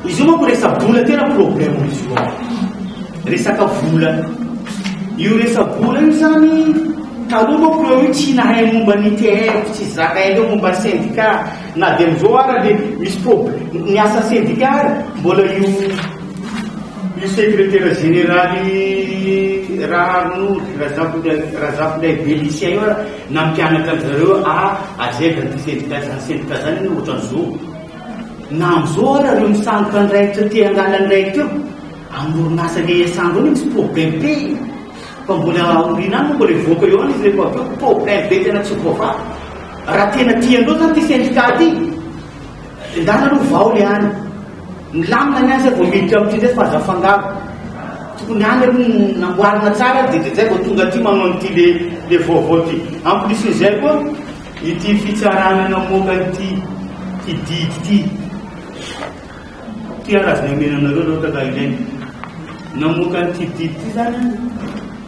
Izy io manko resa-bola tena problème izy io. Resaka vola. Io resa-bola io zany taloha manko eo io tsy nahay momba ny TR tsy zaka eo momba syndicat na dia amin'izao ara dia misy problème ny asa syndicat mbola io io secrétaire général raha Razafindraibe Lucien io Nampianatra an-dry zareo ah ajery zany sendika zany sendika zany anie ohatran'ny zo na amzao ara reo misandoka ny raiky teo te hangala ny raiky teo amin'ny orinasa le iasandro ao le misy problème be fa mbola aoriana any moa mbola hivoaka eo any izy rehefa avy eo problème be tena tsy ho voavaha raha tena tiandreo zany ty sendika ty Endana aloha vao le any. Milamina ny any zay vao miditra amin'ity ndray fa aza afangaro. Tokony any aloha no namboarina tsara dia dia zay vao tonga aty manao an'ity le le vaovao ty. En plus n'izay koa ity fitsarana namoaka an'ity ty didy ty. Ty ary aza ny omena anareo loatra ka ilaina. Namoaka an'ity didy ty zany an.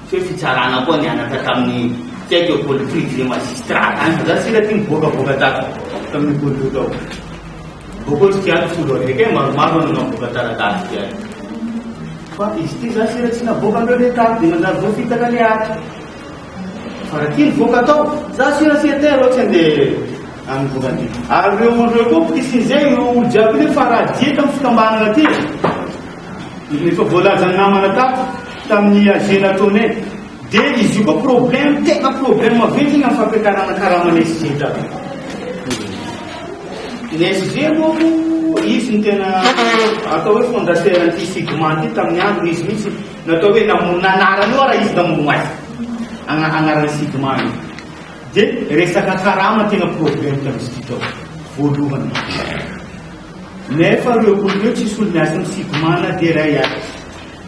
Tsy hoe fitsarana koa nianatra tamin'ny Tête au col prix du magistrat any fa za tsy hita ty miboakavoaka tato tamin'io col io tao. Mbô koa tsy tiako solo araiky e, maromaro no navoaka taratasy ty any. Fa izy ty za sira tsy navoaka andreo le tato dia manjary voafitaka le ato. Fa raha ty nivoaka tao, za sira tsy ete reo tsy andeha amin'ny vokany ty. Ary reo andreo koa mpitisizy io olo jiaby io nefa raha dia tamin'ny fikambanana ty e. Efa voalazan'ny namana tato tamin'ny AG nataonay dia izy io koa problème tena problème maventy ny amin'ny fampiakarana karaman'ny SG tato. Ny SG moa izy ny tena atao hoe fondateur an'ity Sigma ity tamin'ny andro izy mihitsy natao hoe namono nanarana io raha izy namono azy Agna- anaran'ny Sigma io. Dia resaka karama tena problème tamin'izy ity tao voalohany. Nefa reo olona reo tsy solomiasin ny sigma na dia iray aza.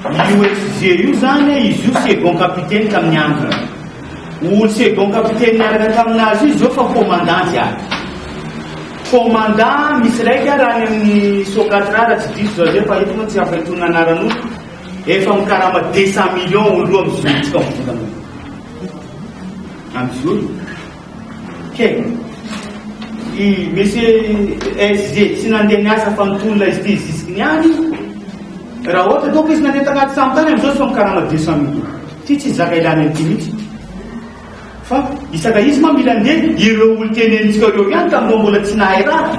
Io SG io zany a, izy io second capitaine tamin'ny androny. Olo second capitaine niaraka taminazy io zao fa commandant jiaby. Commandant misy raika raha any amin'ny Socatrà raha tsy diso zao zay fa eto moa tsy ampahitony anaran'olo efa mikarama deux cent millions olo roa mizotra amin'ny volana io. Am'zao io. Kevin. I monsieur SG tsy nandeha niasa fa nitony ilay izy zisiky ny any. Raha ohatra ataoko izy nandeha tanaty samy tany amin'izao sao mikarama 200 mille. Ty tsy zaka ilana an'ity mihitsy. Fa isaka izy ma mila ndeha ireo olon-tenenitsika ireo ihany tamin'ireo mbola tsy nahay raha.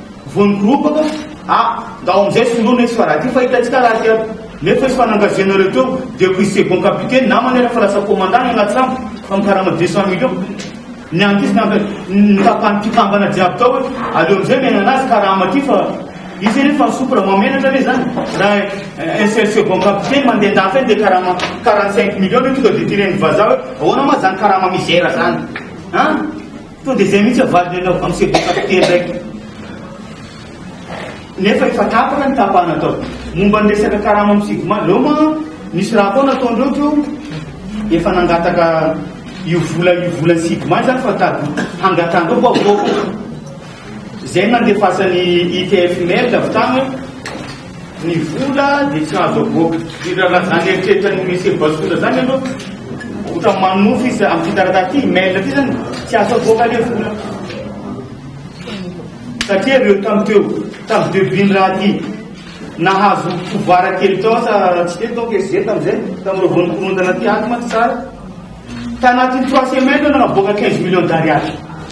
Vao nikoropaka a! Ndao amin'izay soloina izy fa raha ty fa hitantsika raha aty aby. Nefa izy fa nangavianareo teo dia koa i second capitaine namany ary efa lasa commandant i Ratsiramba fa mikarama deux cent millions. Ny an'ity izy nanga ny tapany mpikambana jiaby tao hoe aleo amin'izay miaina anazy karama ty fa izy anie fa nisopy raha mahamenatra ve zany raha un seul second capitaine mandeha an-dafy any dia karama quarante cinq millions ve tonga dia ty ren'ny vazaha hoe ahoana ma zany karama misera zany an! Tonga dia izay mihitsy ny valiny anao amin'ny sekoly fahatelo iraiky. Nefa efa tapaka ny tapahana atao. Momba ny resaka karama amin'ny sigma, aleo ma misy raha koa nataondreo teo efa nangataka io vola io volan'ny sigma izany fa tady hangatandreo koa voako. Izay no nandefasan'ny ITF mail avy tany Ny vola dia tsy azo avoaka. Dia raha raha zany eritreritran'i Monsieur Bazotola zany aloha, ohatra manonofy izy amin'ity taratasy ity, email ity zany, tsy azo avoaka le vola. Satria reo tam teo, tam debut-ny raha ty, nahazo pouvoir kely tao sa tsy teo donc SG tam'zay, tam'reo vao nikorontana ty, ato mantsy tsara, tanatin'ny trois semaines reo nanavoaka quinze millions d'ariary.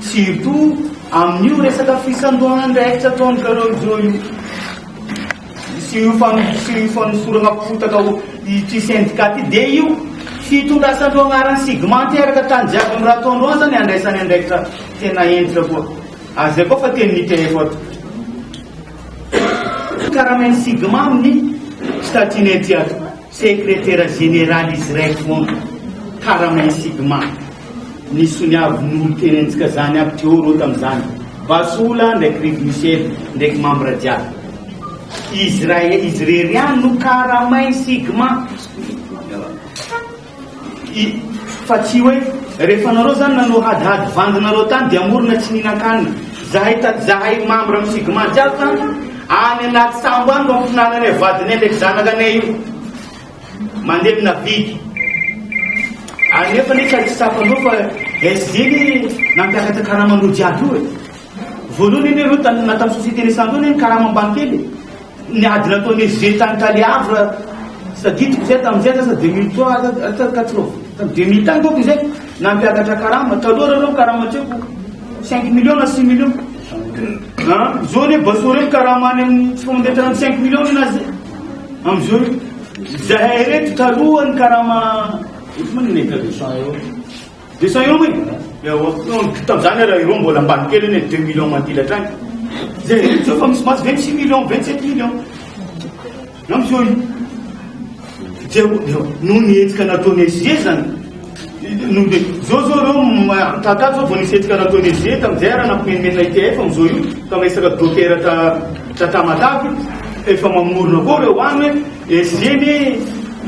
Surtout amin'io resaka fisandohan'andraikitra ataon'i Carole Jo io sy io fanosorana potaka ity syndicat ity dia io fitondrasan'ireo agnaran'ny sigma teraka tany jiaby amin'i Ratoandro any izany handraisany andraikitra tena hentitra koa. Ary izay koa fa teny nitf ato. Karamain'ny sigma amin'ny statut-ny aty ato. Sekretera Jeneraly Israel Mont Karamen Sigma, ny soniavin' olo teny antsikazany aby teo reo tam zany, Basola ndraiky Rev Michel ndraiky mambra jiaby. Izy rae izy rery ihany no Karamen Sigma. I, Fa tsy hoe rehefa nareo zany nanao hadihady vandy nareo tany dia morona tsy nihinan-kanina. Zahay taty zahay membre am sigma jiaby tany any anaty sambo any no ampihinananay vadinay ndraiky zanakanay io. Mandevina vide. Ary nefa anie ka tsy tsapanao fa SGINY nampiakatra karaman'olo jiaby io e. Voalohany anie reo tan na tam société naissante eo anie ny karama ambany kely e. Ny ady nataon'i Eugène tany Cali Havre, tsy tadidiko izay tamin'izay lasa deux mille trois sa deux mille quatre oa? Tamin'ny deux mille tany boka izay, nampiakatra karama, taloha raha ireo ny karama an-tseho cinq millions na six millions, an, izao anie Bassoro io mikarama any amin'ny tsy famantarana ny cinq millions ny anazy amin'izao io, izahay ireto taloha nikarama, eto moa ny nefera e. Dia sao eo hoe, ewa, tamin'izany ary ireo mbola ambany kely anie deux millions mandily hatrany. Dia intsony fa misy mahazo vingt six millions, vingt sept millions. Na misy eo io. Dia noho ny hetsika nataon'i SG zany, noho dia zao zao ireo mitahaka zao vao nisy hetsika nataon'i SG tamin'izay ary nampimenimena ITF amin'izao io, ka miresaka dokera ta, ta Tamatave, efa mamorona koa ireo any hoe, Esg ny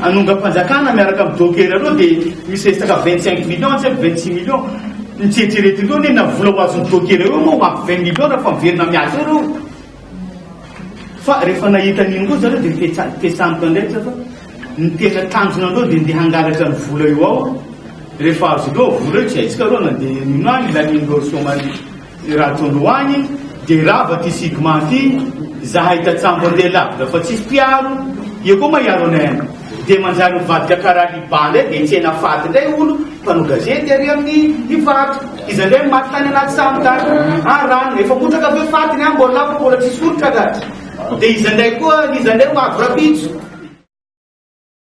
hanongam-panjakana miaraka amin'ny docker ireo dia misy resaka vingt cinq millions tsy haiko vingt six millions ny tsy eritreretiko eo anie na vola ho azon'ny docker eo moa ho ampy vingt millions raha fa miverina miasa eo ireo fa rehefa nahita an'iny koa zareo dia fetsa- fetsaniko indray tsy fa ny tena tanjona andreo dia ndeha hangalatra ny vola eo ao rehefa azo ireo vola eo tsy haintsika ireo na dia nino any ilanian'ireo chômage I Ratoloany dia rava ty sigma ty zahay tatsambo andeha lavitra fa tsisy mpiaro eo koa ma hiaro anay any dia manjary mivadika karaha liba ndray dia hitsena faty ndray olo mpanao gazety ary amin'ny ny vato iza ndray ny maty tany anaty sambo tany ah rano efa motraka ve faty ny ah mbola lavo mbola tsisy olitra dia iza ndray koa iza ndray mavo rapitso